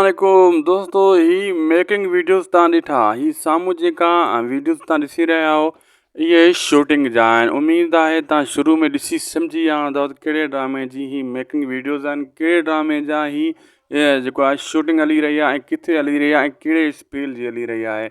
عليڪم دوستو هي ميڪنگ ويڊيوز تان ڏٺا هي سامهون جيڪا ويڊيوز تان ڏسي رهيا آهو اهي شوٽنگ جا آهن اميد آهي تان شروع ۾ ڏسي سمجهي ويا هوندا ڪهڙي ڊرامي جي هي ميڪنگ ويڊيوز آهن ڪهڙي ڊرامي جا هي جيڪو آهي شوٽنگ هلي رهي آهي ۽ ڪٿي هلي رهي آهي ڪهڙي اسپيل جي هلي رهي آهي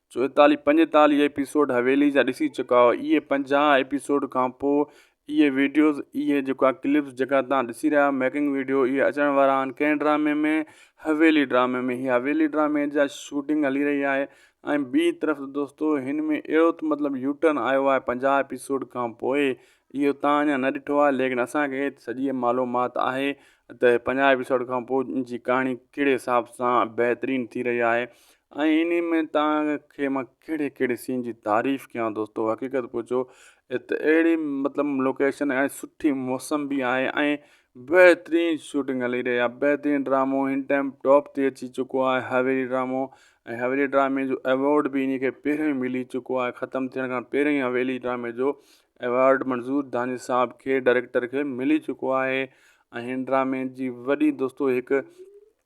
چوئيتاليهه پنجيتاليهه ايپيسوڊ حويلي جا ڏسي چڪا هئا اهي پنجاهه ايپيسوڊ کان پوء اهي ويڊيوز اهي جيڪا ڪلپس جيڪا توهان ڏسي رهيا آهيو ميڪنگ ويڊيو اهي اچڻ وارا آهن ڪنهن ڊرامي ۾ حويلي ڊرامي ۾ هي حويلي ڊرامي جا شوٽنگ هلي رهي آهي ۽ ٻي طرف دوستو هن ۾ اهڙو ته مطلب يوٽرن آيو آهي پنجاهه ايپيسوڊ کان پوء اهو توهان اڃا نه ڏٺو آهي ليڪن اسانکي سڄي معلومات آهي ته پنجاهه ايپيسوڊ کان پوء جي ڪهاڻي ڪهڙي حساب سان بهترين ٿي رهي آهي ۽ انهي ۾ توهان کي مان ڪهڙي ڪهڙي سين جي تعريف ڪيان دوستو حقيقت پڇو ات اهڙي مطلب لوڪيشن ۽ سٺي موسم به آهي ۽ بهترين شوٽنگ هلي رهي آهي بهترين ڊرامو هن ٽائم ٽاپ تي اچي چڪو آهي هاويري ڊرامو ۽ هاويري ڊرامي جو ايوارڊ به انهي کي پهريون ملي چڪو آهي ختم ٿيڻ کان پهريون ئي هاويري ڊرامي جو ايوارڊ منظور داني صاحب کي ڊائريڪٽر کي ملي چڪو آهي ۽ هن ڊرامي جي وڏي دوستو هڪ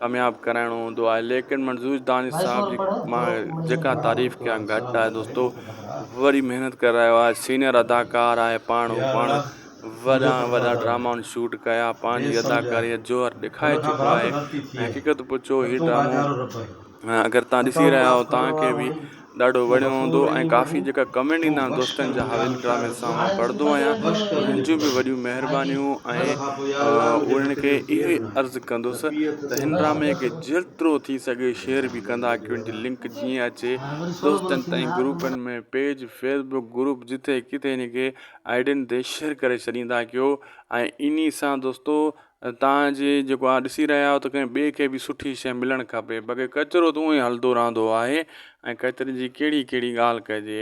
ڪامياب ڪرائڻو هوندو آهي ليڪن منظور دانش صاحب جي مان جيڪا تعريف ڪيان گهٽ آهي دوستو وري محنت ڪري رهيو آهي سينئر اداڪار آهي پاڻ هو پاڻ وڏا وڏا ڊراما شوٽ ڪيا پنهنجي اداڪاري جو جوهر ڏيکاري چڪو آهي حقيقت پڇو هي ڊرامو اگر تان ڏسي رهيا آهيو تان کي به ڏاڍو وڻيو هوندو ۽ ڪافي جيڪا ڪمينٽ ايندا آهن دوستن جا هاويل ڊرامي جا سا مان پڙهندو آهيان انهن جون به وڏيون مهربانيون ۽ انهن کي اهو ئي عرض ڪندس ته هن ڊرامي کي جيترو ٿي سگهي شيئر به ڪندا ڪيو ان جي لنڪ جيئن اچي دوستن تائين گروپن ۾ پيج فيس بڪ گروپ جتي ڪٿي هن کي آئيڊين تي شيئر ڪري ڇڏيندا ڪيو ۽ انهي سان دوستو توهان جي جيڪو اوهان ڏسي رهيا آهيو ته ڪنهن ٻئي کي به سٺي شي ملڻ کپي بقي ڪچرو ته اوهين هلندو رهندو آهي ۽ ڪچري جي ڪهڙي ڪهڙي ڳالهه ڪجي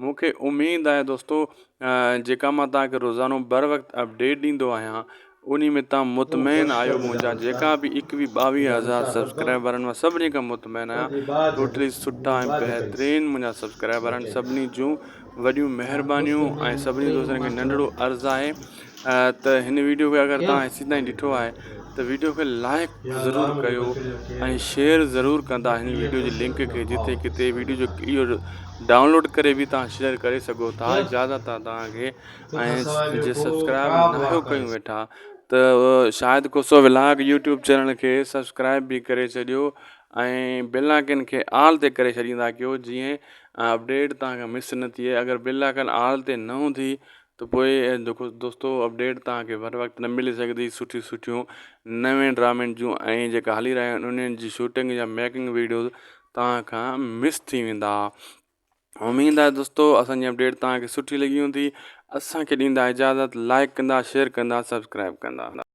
مونکي اميد آهي دوستو جيڪا مان توهان کي روزانو بر وقت اپڊيٽ ڏيندو آهيان انهي ۾ توهان مطمئن آهيو منهنجا جيڪا به ايڪويهه ٻاويهه هزار سبسڪرائبر آهن مان سڀني کان مطمئن آهيان ٽوٽلي سٺا ۽ بهترين منهنجا سبسڪرائبر آهن سڀني جون وڏيون مهربانيون ۽ سڀني دوستن کي ننڍڙو عرض آهي ته هن ويڊيو کي اگر توهان هيسين تائين ڏٺو آهي ته ويڊيو کي لائق ضرور ڪيو ۽ شيئر ضرور ڪندا هن ويڊيو جي لنڪ کي جتي ڪتي ويڊيو جو اهو ڊائونلوڊ ڪري به توهان شيئر ڪري سگهو ٿا زياده تان توهان کي ۽ جي سبسڪرائب نه ڪيون ويٺا ته شايد ڪو سو ولاگ يوٽيوب چينل کي سبسڪرائب به ڪري ڇڏيو ۽ بيل آئڪن کي آل تي ڪري ڇڏيندا ڪيو جيئن ۽ اپڊيٽ توهان کان مس نه ٿئي اگر بي لاڪن آل تي نه هوندي ته پوء جيڪو دوستو اپڊيٽ توهان کي هر وقت نه ملي سگهندي سٺيون سٺيون نوين ڊرامين جون ۽ جيڪا هلي رهيا آهن انهن جي شوٽنگ يا ميڪنگ ويڊيوز توهان کان مس ٿي ويندا اميد آهي دوستو اسان جي اپڊيٽ توهان کي سٺي لڳي هوندي اسان کي ڏيندا اجازت لائڪ ڪندا شيئر ڪندا سبسڪرائب ڪندا